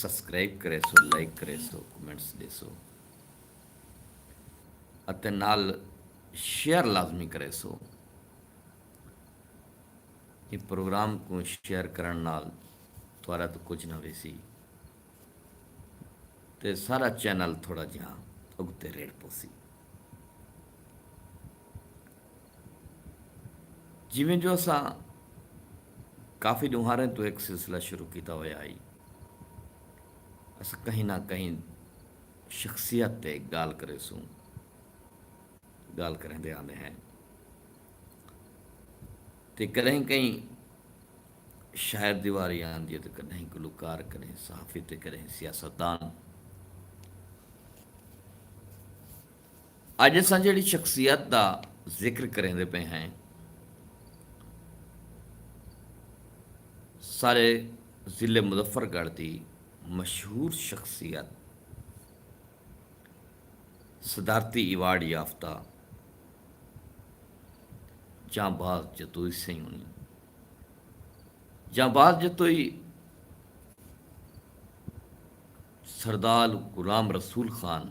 Subscribe کریسو like کریسو comments ڈیسو اتے نال شیئر لازمی کریسو ایں پروگرام کوں شیئر کرن نال تہاڈا تاں کجھ نہ ویسی تے سارا چینل تھوڑا جیہاں اگتے ریڑھ پوسی۔ جیویں جو اساں کافی ڈونہاریں توں ہک سلسلہ شروع کیتا ہویا ہئی۔ اساں کہیں نہ کہیں شخصیت تے گالھ کریسوں۔ گالھ کریندے آندے ہیں۔ تے کڈہیں کہیں شاعر دی واری آندی ہے تے کڈہیں گلوکار کڈہیں صحافی تے کڈہیں سیاستدان۔ اڄ اساں جیڑھی شخصیت دا ذکر کریندے پئے ہیں سارے ضلع مظفر گڑھ دی مشہور شخصیت صدارتی ایوارڈ یافتہ جاں باز جتوئی سئیں ہونی جاں باز جتوئی سردال غلام رسول خان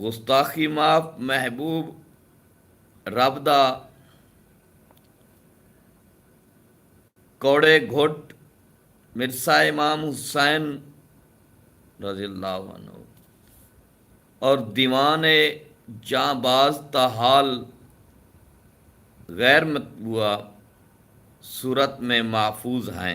گستاخی معاف محبوب رب دا کوڑے گھٹ مرثا امام حسین رضی اللہ عنہ اور دیوان جاں باز تا حال غیر مطبوعہ صورت میں محفوظ ہیں۔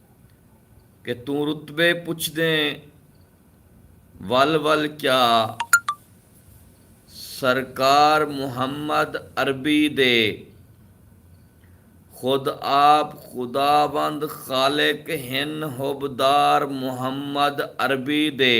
کہ توں رتبے پچھدیں ول ول کیا سرکار محمد عربی دے خود آپ خداوند خالق ہن حبدار محمد عربی دے۔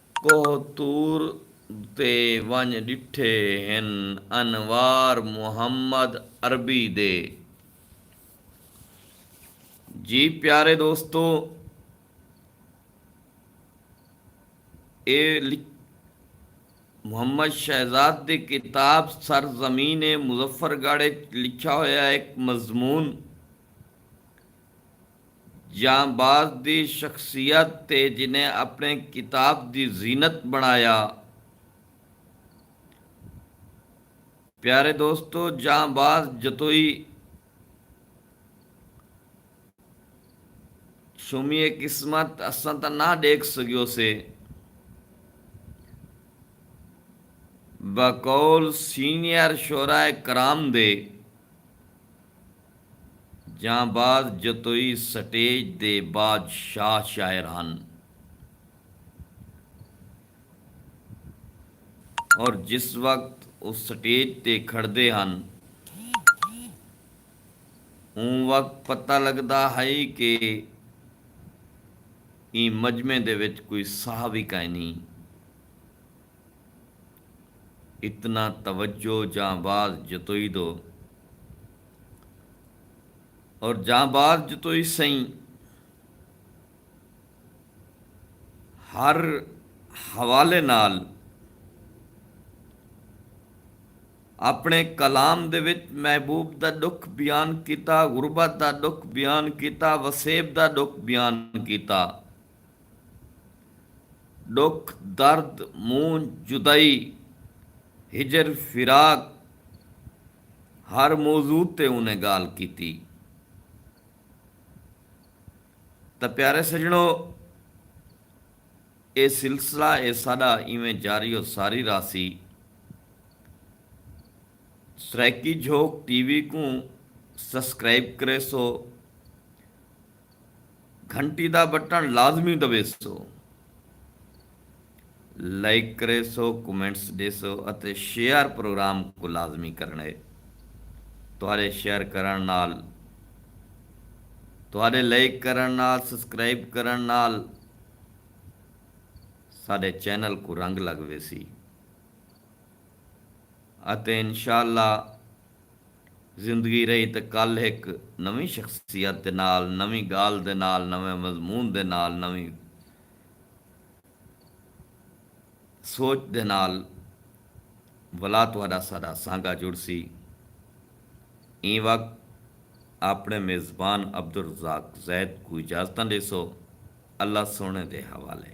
کوہ طور تے ونڄ ݙٹھے ہن انوار محمد عربی دے۔ جی پیارے دوستو ایہ محمد شہزاد دی کتاب سر زمین مظفر گڑھ اچ لکھیا ہویا ہک مضمون۔ جانباز دی شخصیت تے جنہیں اپݨے کتاب دی زینت بݨایا۔ پیارے دوستو جانباز جتوئی شومی اے قسمت اساں تاں نہ ݙیکھ سڳیوسے۔ بقول سینئر شعراء کرام دے۔ جانباز جتوئی سٹیج دے بادشاہ شاعر ہن اور جس وقت او سٹیج تے کھڑدے ہن اوں وقت پتہ لگدا ہئی کہ ایں مجمعے دے وچ کوئی ساہ وی کائنی اتنا توجہ جانباز جتوئی دو اور جاں بعد جتو ای سئیں ہر حوالے نال اپنے کلام دے وچ محبوب دا ڈکھ بیان کیتا، غربت دا ڈکھ بیان کیتا، وسیب دا ڈکھ بیان کیتا۔ ڈکھ، درد، مونجھ، جدائی، ہجر، فراق، ہر موضوع تے اوں نے گالھ کیتی تاں پیارے سجنڑو اے سلسلہ اے ساڈا ایویں جاری و ساری راہسی۔ سرائیکی جھوک ٹی وی کوں سسکرائب کریسو۔ گھنٹی دا بٹن لازمی دبیسو۔ لائک کریسو، کمنٹس ڈیسو اتے شیئر پروگرام کوں لازمی کرنڑے۔ تہاڈے شیئر کرنڑ نال، تہاڈے لائک کرنڑ نال، سبسکرائب کرنڑ نال ساڈے چینل کوں رنگ لگ ویسی اتے انشاءاللہ زندگی رہی تے کل ہک نویں شخصیت دے نال، نویں گالھ دے نال، نویں مضمون دے نال، نویں سوچ دے نال ولا تہاڈا ساڈا سانگا جڑسی۔ ایں وقت آپنڑے میزبان عبدالرزاق زید کوں اجازتاں ڈیسو۔ اللہ سوہنڑے دے حوالے۔